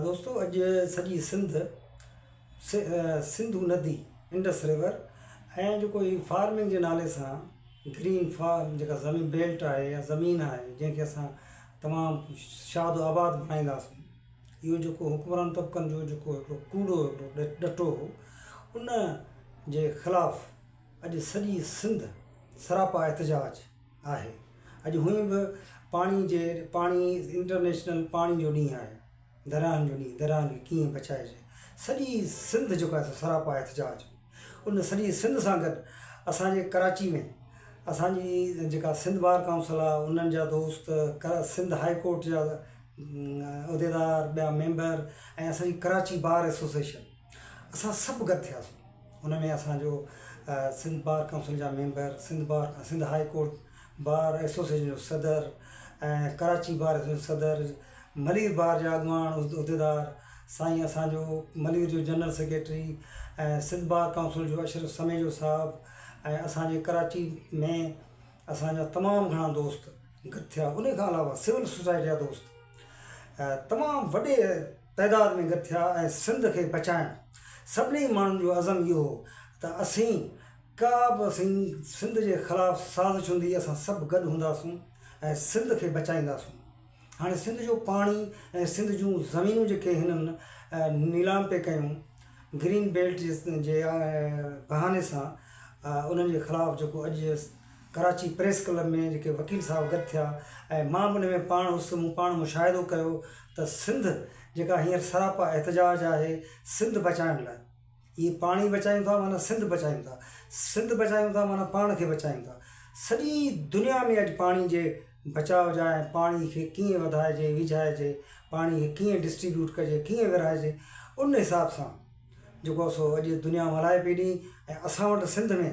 دوستو اڄ سڄي سنڌ سنڌو ندي انڊس ريور ۽ جيڪو هي فارمنگ جي نالي سان گرين فارم جيڪا زمين بيلٽ آهي يا زمين آهي جنهن کي اسان تمام شاد و آباد بڻائينداسين اهو جيڪو حڪمران طبقن جو جيڪو هڪڙو ڪوڙو هڪڙو ڏٽو هو ان جي خلاف اڄ سڄي سنڌ سراپا احتجاج آهي اڄ هونئن به پاڻي جي پاڻي انٽرنيشنل پاڻي جو ڏينهن آهي درياهن جو ڏينهن درياهن کي ڪيئن بچائجي سڄي سنڌ جيڪو آهي سو سراپا آهي احتجاج جو ان سڄي سنڌ سان گڏ اسانجي ڪراچي ۾ اسانجي جيڪا سنڌ بار ڪاؤنسل آهي انهن جا دوست ڪرا سنڌ هائي ڪورٽ جا عهديدار ٻيا ميمبر ۽ اسانجي ڪراچي بار ايسوسيشن اسان سڀ گڏ ٿياسون ان ۾ اسان جو سنڌ بار ڪائونسل جا member Sindh bar Sindh high court bar association جو صدر ۽ ڪراچي بار ايسوسيئيشن جو صدر ملير بار جا اڳواڻ عهديدار سائين اسان جو ملير جو general secretary ۽ Sindh bar council جو اشرف سميجو صاحب ۽ اسان جي ڪراچي ۾ اسان جا تمام گهڻا دوست گڏ ٿيا ان کان علاوه سول سوسائٽي جا دوست تمام وڏي تعداد ۾ گڏ ٿيا ۽ سنڌ کي بچائڻ سڀني ماڻهن جو عزم اهو هو ته اسين ڪا به اسين سنڌ جي خلاف سازش هوندي اسان سڀ گڏ هونداسون ۽ سنڌ کي بچائينداسون هاڻي سنڌ جو پاڻي ۽ سنڌ جون زمينون جيڪي هنن نيلام پئي ڪيون گرين بيلٽ جي بهاني سان انهن جي خلاف جيڪو اڄ ڪراچي پريس ڪلب ۾ جيڪي وڪيل صاحب گڏ ٿيا ۽ مان به ان ۾ پاڻ هوس مون پاڻ مشاهدو ڪيو ته سنڌ جيڪا هينئر سراپا احتجاج آهي سنڌ بچائڻ لاء اهي پاڻي بچايون ٿا معنيٰ سنڌ بچايون ٿا سنڌ بچايون ٿا معنيٰ پاڻ کي بچايون ٿا سڄي دنيا ۾ اڄ پاڻي جي بچاء جا ۽ پاڻي کي ڪيئن وڌائجي ويجهائجي پاڻي کي ڪيئن ڊسٽريبيوٽ ڪجي ڪيئن ورهائجي ان حساب سان جيڪو سو اڄ دنيا ملهائي پئي ڏئي ۽ اسان وٽ سنڌ ۾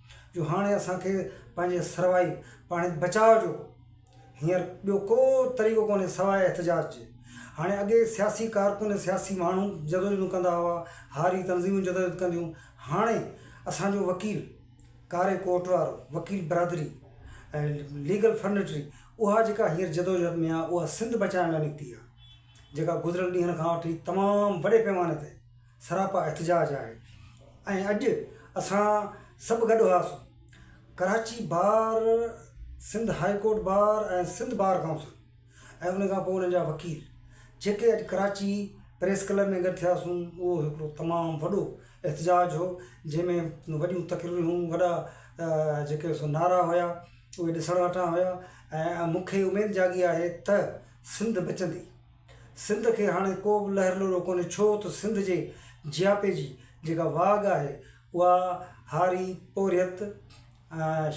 جو هاڻي اسان کي پنهنجي سروائي پاڻي بچاء جو هينئر ٻيو ڪو طريقو ڪونهي سواء احتجاج جي. هاڻي اڳي سياسي ڪارڪن ۽ سياسي ماڻهو جدوجهدون ڪندا هئا، هاري تنظيمون جدوجهد ڪنديون، هاڻي اسان جو وڪيل، ڪاري ڪوٽ وارو، وڪيل برادري ۽ ليگل فرنٽري اها جيڪا هينئر جدوجهد ۾ آهي اها سنڌ بچائڻ لاء نڪتي آهي جيڪا گذريل ڏينهن کان وٺي تمام وڏي پيماني تي سراپا احتجاج آهي ۽ اڄ اسان سڀ گڏ هئاسون. Karachi bar, Sindh high court bar ۽ Sindh bar council ۽ ان کان پوء انهن جا وڪيل جيڪي اڄ ڪراچي پريس ڪلب ۾ گڏ ٿياسون اهو هڪڙو تمام وڏو احتجاج هو جنهن ۾ وڏيون تقريرون هيون وڏا جيڪي سو نعرا هيا اهي ڏسڻ وٽان هيا ۽ مون کي اميد جاڳي آهي ته سنڌ بچندي. سنڌ کي هاڻي ڪو به لهر لوڏو ڪونهي ڇو ته سنڌ جي جياپي جي جيڪا واڳ آهي اها هاري پورهيت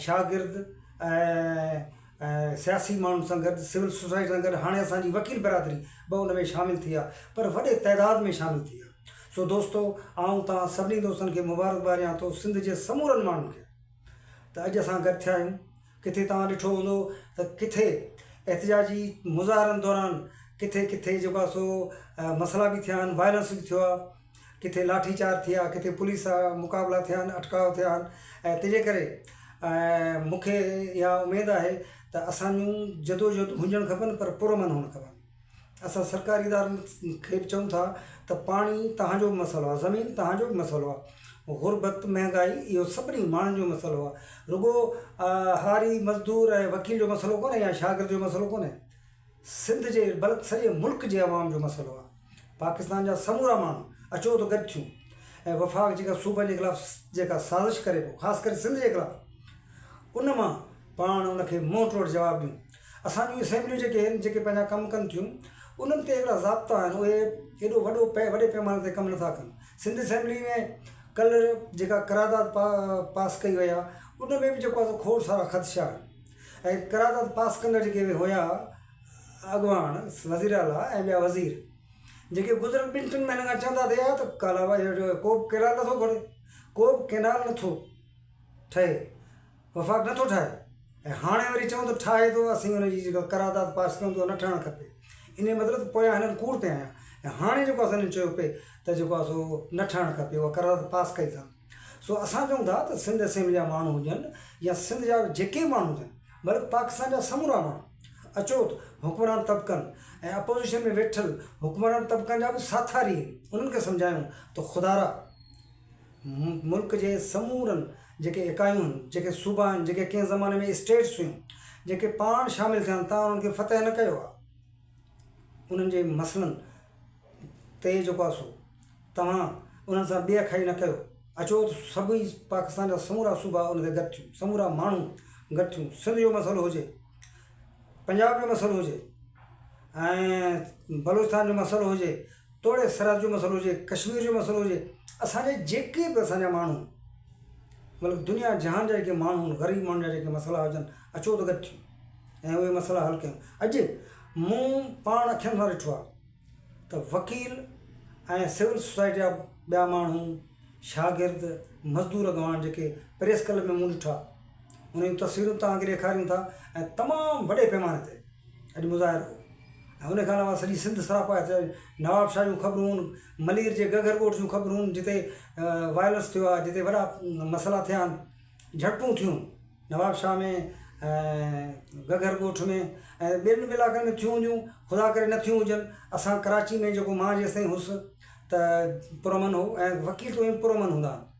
شاگرد ۽ سياسي ماڻهن سان گڏ سول سوسائٽي سان گڏ هاڻي اسان جي وڪيل برادري به ان ۾ شامل ٿي آهي پر وڏي تعداد ۾ شامل ٿي آهي سو دوستو آئون توهان سڀني دوستن کي مبارڪ باد ڏيان ٿو سنڌ جي سمورن ماڻهن کي ته اڄ اسان گڏ ٿيا آهيون. ڪٿي توهان ڏٺو هوندو ته ڪٿي احتجاجي مظاهرن دوران ڪٿي ڪٿي جيڪو آهي سو مسئلا به ٿيا آهن وائلنس به ٿيو آهي ڪٿي لاٺي چارج ٿي آهي ڪٿي پوليس سان مقابلا ٿيا آهن اٽڪاء ٿيا آهن ۽ تنهنجي ڪري مون کي اها اميد آهي ته اسان جون جدوجهد هجڻ کپن پر پرامن هجڻ کپن اسان سرڪاري ادارن کي به چئون ٿا ته پاڻي توهان جو به مسئلو آهي زمين توهان جو به مسئلو آهي غربت مهنگائي اهو سڀني ماڻهن جو مسئلو آهي رڳو هاري مزدور ۽ وڪيل جو مسئلو ڪونهي يا شاگرد جو مسئلو ڪونهي سنڌ جي بلڪ سڄي ملڪ جي عوام جو مسئلو آهي پاڪستان جا سمورا ماڻهو اچو ته گڏ ٿيون ۽ وفاق جيڪا صوبن جي خلاف جيڪا سازش ڪري پيو خاص ڪري سنڌ جي خلاف ان مان پاڻ ان کي منهن ٽوڙ جواب ڏيون اسان جون اسيمبليون جيڪي آهن جيڪي پنهنجا ڪم ڪن ٿيون انهن تي اهڙا ضابطا آهن اهي ايڏو وڏو پئي وڏي پئماني تي ڪم نٿا ڪن سنڌ اسيمبلي ۾ ڪلهه جيڪا قرارداد پا پاس ڪئي وئي آهي ان ۾ بھ جيڪو آهي سو کوڙ سارا خدشا آهن ۽ قرارداد پاس ڪندڙ جيڪي بھ هيا اڳواڻ وزير اعليٰ ۽ ٻيا وزير جيڪي گذريل ٻن ٽن مهينن کان چوندا ٿي آيا تھ ڪالاباغ جو ڪو بھ ڪئنال نٿو گھڙي ڪو بھ ڪئنال نٿو ٺهي وفاق نه ٿو ٺاهي ۽ هاڻي وري چئون ته ٺاهي ٿو اسين ان جي جيڪا قرارداد پاس ڪيون ته اها نه ٺهڻ کپي انهي جو مطلب ته پويان هنن ڪوڙ پيا هنيا ۽ هاڻي جيڪو اسان هنن چيو پئي ته جيڪو آهي سو نه ٺهڻ کپي اها قرارداد پاس ڪئي اٿن سو اسان چئون ٿا ته سنڌ اسيمبلي جا ماڻهو هجن يا سنڌ جا جيڪي به ماڻهو هجن بلڪ پاڪستان جا سمورا ماڻهو اچوٽ حڪمران طبقن ۽ اپوزيشن ۾ ويٺل حڪمران طبقن جا به ساٿاري آهن انهن کي سمجهايون ته خدارا ملڪ جي سمورن جيڪي اڪايون هن، جيڪي صوبا هن، جيڪي ڪنهن زماني ۾ اسٽيٽس هيون، جيڪي پاڻ شامل ٿيا هن تان انهن کي فتح نه ڪيو آ. انهن جي مسئلن تي جيڪو آ سو توهان انهن سان بي اکائي نه ڪيو. اچو ته سڀئي پاڪستان جا سمورا صوبا ان تي گڏ ٿيون، سمورا ماڻهو گڏ ٿيون، سنڌ جو مسئلو هجي، پنجاب جو مسئلو هجي ۽ بلوچستان جو مسئلو هجي، توڙي سرحد جو مسئلو هجي، ڪشمير جو مسئلو هجي، اسان جي جيڪي به اسان جا ماڻهو بلڪ دنيا جهان جا جيڪي ماڻهو آهن، غريب ماڻهن جا جيڪي مسئلا هجن، اچو ته گڏ ٿيون ۽ اهي مسئلا حل ڪيون. اڄ مون پاڻ اکين سان ڏٺو آهي ته وڪيل ۽ سول سوسائٽي جا ٻيا ماڻهو، شاگرد، مزدور اڳواڻ جيڪي پريس ڪلب ۾ مون ڏٺا، انهن جون تصويرون توهان کي ڏيکاريون ٿا ۽ تمام وڏي پيماني تي اڄ مظاهرو هو ۽ ان کان علاوه سڄي سنڌ سراپا هتي آيو نواب شاهه جون خبرون ملير جي گگهر ڳوٺ جون خبرون جتي وائلنس ٿيو آهي جتي وڏا مسئلا ٿيا آهن جهڙپون ٿيون نواب شاهه ۾ گگهر ڳوٺ ۾ ۽ ٻين به علائقن ۾ ٿيون هونديون خدا ڪري نه ٿيون هجن اسان ڪراچي ۾ جيڪو مان جيسين هوس ته پرامن هو ۽ وڪيل تون پر امن هوندا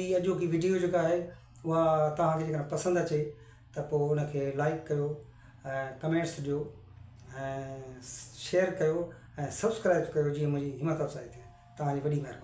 ھي اڄوڪي وڊيو جيڪا آھي اھا توھان کي جيڪڏھن پسند اچي ته پوء ان کي لائيڪ ڪيو ۽ ڪمينٽس ڏيو ۽ شيئر ڪيو ۽ سبسڪرائيب ڪيو جيئن منھنجي ھمت افزائي ٿئي توھان جي وڏي مھرباني